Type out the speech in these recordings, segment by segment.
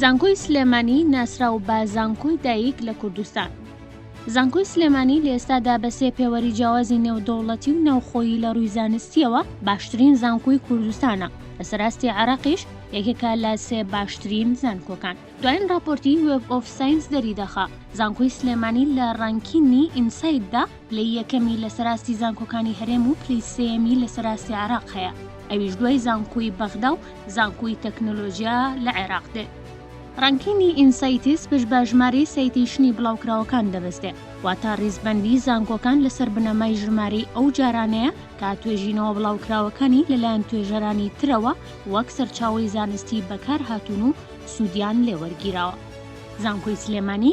زانکۆی سلێمانی ناسراو بە زانکۆی دایک لە کوردستان. زانکۆی سلێمانی لە ئێستادا بە سێ پێوەری جیاوازی نێودەوڵەتی و ناوخۆیی لە ڕووی زانستییەوە باشترین زانکۆی کوردستانە، لە سەراستی عێراقیش یەکێکە لە سێ باشترین زانکۆکان. دوایین ڕاپۆرتی وێب ئۆف ساینس دەریدەخا زانکۆی سلێمانی لە ڕانکینی ئینسایتدا پلەی یەکەمی لە سەراستی زانکۆکانی هەرێم و پلەی سێیەمی لە سەراستی عێراق هەیە، ئەویش دوای زانکۆی بەغدا و زانکۆی تەکنۆلۆجیا لە عێراق دێت. ڕانکینگی ئینسایتس پشت بە ژمارەی سایتەیشنی بڵاوکراوەکان دەبەستێ، واتە ڕیزبەندیی زانکۆکان لەسەر بنەمای ژمارەی ئەو جارانەیە کە توێژینەوە بڵاوکراوەکانی لەلایەن توێژەرانی ترەوە وەک سەرچاوەی زانستی بەکارهاتوون و سوودیان لێوەرگیراوە. زانکۆی سلێمانی،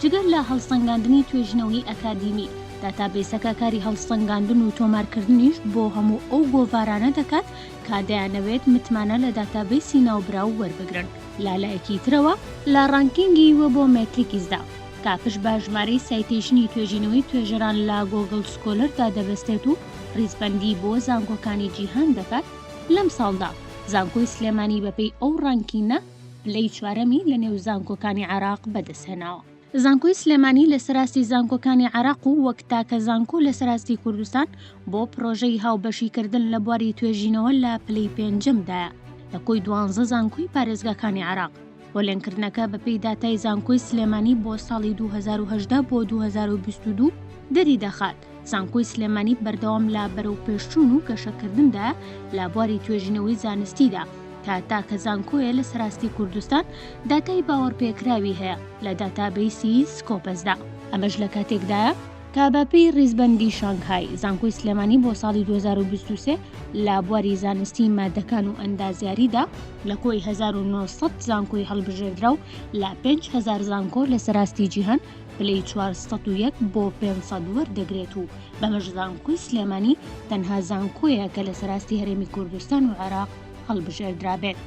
جگە لە هەڵسەنگاندنی توێژینەوەی ئەکادیمی، داتابەیسەکە کاری هەڵسەنگاندن و تۆمارکردنیش بۆ هەموو ئەو گۆڤارانە دەکات کە دەیانەوێت متمانە لە داتابەیسی ناوبراو وەربگرن. لە لایەکی ترەوە، لە ڕانکینگی وێبۆمێتریکسدا، کاپش بە ژمارەی سایتەیشنی توێژینەوەی توێژەران لە گۆگڵ سکۆلەردا دەبەستێت و ڕیزبەندی بۆ زانکۆکانی جیهان دەکات، لەمساڵدا زانکۆی سلێمانی بەپێی ئەو ڕانکینە، پلەی چوارەمی لە نێو زانکۆکانی عێراق بەدەستهێناوە. زانکۆی سلێمانی لەسەر ئاستی زانکۆکانی عێراق و وەک تاکە زانکۆ لەسەر ئاستی کوردستان بۆ پرۆژەی هاوبەشیکردن لە بواری توێژینەوە لە پلەی پێنجەمدایە لە کۆی دوانزە زانکۆی پارێزگاکانی عێراق. پۆلێنکردنەکە بەپێی داتای زانکۆی سلێمانی بۆ ساڵی دوو هەزار و هەژدە بۆ دوو هەزار و بیست و دوو دەریدەخات، زانکۆی سلێمانی بەردەوام لە بەرەوپێشچوون و گەشەکردندا لە بواری توێژینەوەی زانستیدا تا تاکە زانکۆیە لە سەراستی کوردستان داتای باوەڕپێکراوی هەیە لە داتابیسی سکۆپەسدا ئەمەش لە کاتێکدایە تا بەپی ڕیزبەندی شانگهای زانکۆی سلێمانی بۆ ساڵی 2023 لە بواری زانستی مادەکان و ئەندازیاریدا لە کۆی 1970 زانکۆی هەڵبژێردرا و لە 5هزار زانکۆ لە سەراستی جیهان پلەی چوار سەد و یەک بۆ پێنج سەد وەردەگرێت و بەمەش زانکۆی سلێمانی تەنها زانکۆیە کە لەسەر ئاستی هەرێمی کوردستان و عێراق هەڵبژێردرابێت.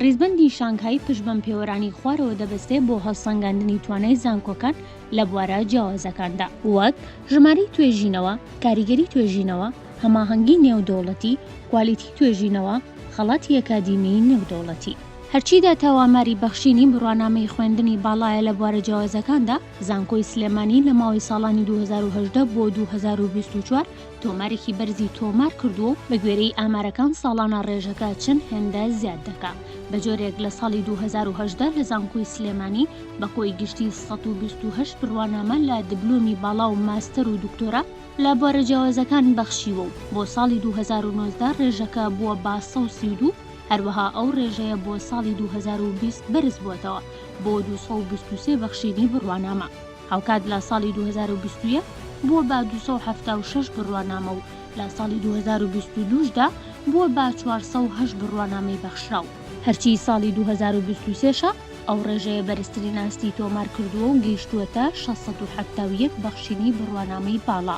ڕیزبەندی شانگهای پشت بەم پێوەرانەی خوارەوە دەبەستێ بۆ هەڵسەنگاندنی توانای زانکۆکان لە بوارە جیاوازەکاندا، وەک، ژمارەی توێژینەوە، کاریگەری توێژینەوە، هەماهەنگی نێودەوڵەتی، کوالیتی توێژینەوە، خەڵاتی ئەکادیمیی نێودەوڵەتی. هەرچی داتاو ئاماری بەخشینی بڕوانامەی خوێندنی باڵایە لە بوارە جیاوازەکاندا، زانکۆی سلێمانی لە ماوەی ساڵانی دوو هەزار و هەژدە بۆ دوو هەزار و بیست و چوار تۆمارێکی بەرزی تۆمار کردووە و بە گوێرەی ئامارەکان ساڵانە ڕێژەکە چەند هێندە زیاد دەکا بە جۆرێک لە ساڵی دوو هەزار و هەژدە لە زانکۆی سلێمانی بە کۆی گشتی سەد و بیست و هەشت بڕوانامە لە دبلۆمی باڵا و ماستەر و دکتۆرا لە بوارە جیاوازەکان بەخشیوە و بۆ ساڵی دوو هەزار و نۆزدە ڕێژەکە بووە بە سەد و سی و دوو هەروەها ئەو ڕێژەیە بۆ ساڵی دوو هەزار و بیست بەرزبووەتەوە بۆ دوو سەد و بیست و سێ بەخشینی بڕوانامە، هاوکات لە ساڵی دوو هەزار و بیست و یەک بووە بە دوو سەد و حەفتا و شەش بڕوانامە و لە ساڵی دوو هەزار و بیست و دوو شدا بووە بە چوار سەد و هەشت بڕوانامەی بەخشراو. هەرچی ساڵی دوو هەزار و بیست و سێ شە، ئەو ڕێژەیە بەرزترین ئاستی تۆمارکردووە و گەیشتووەتە شەش سەد و حەفتا و یەک بەخشینی بڕوانامەی باڵا.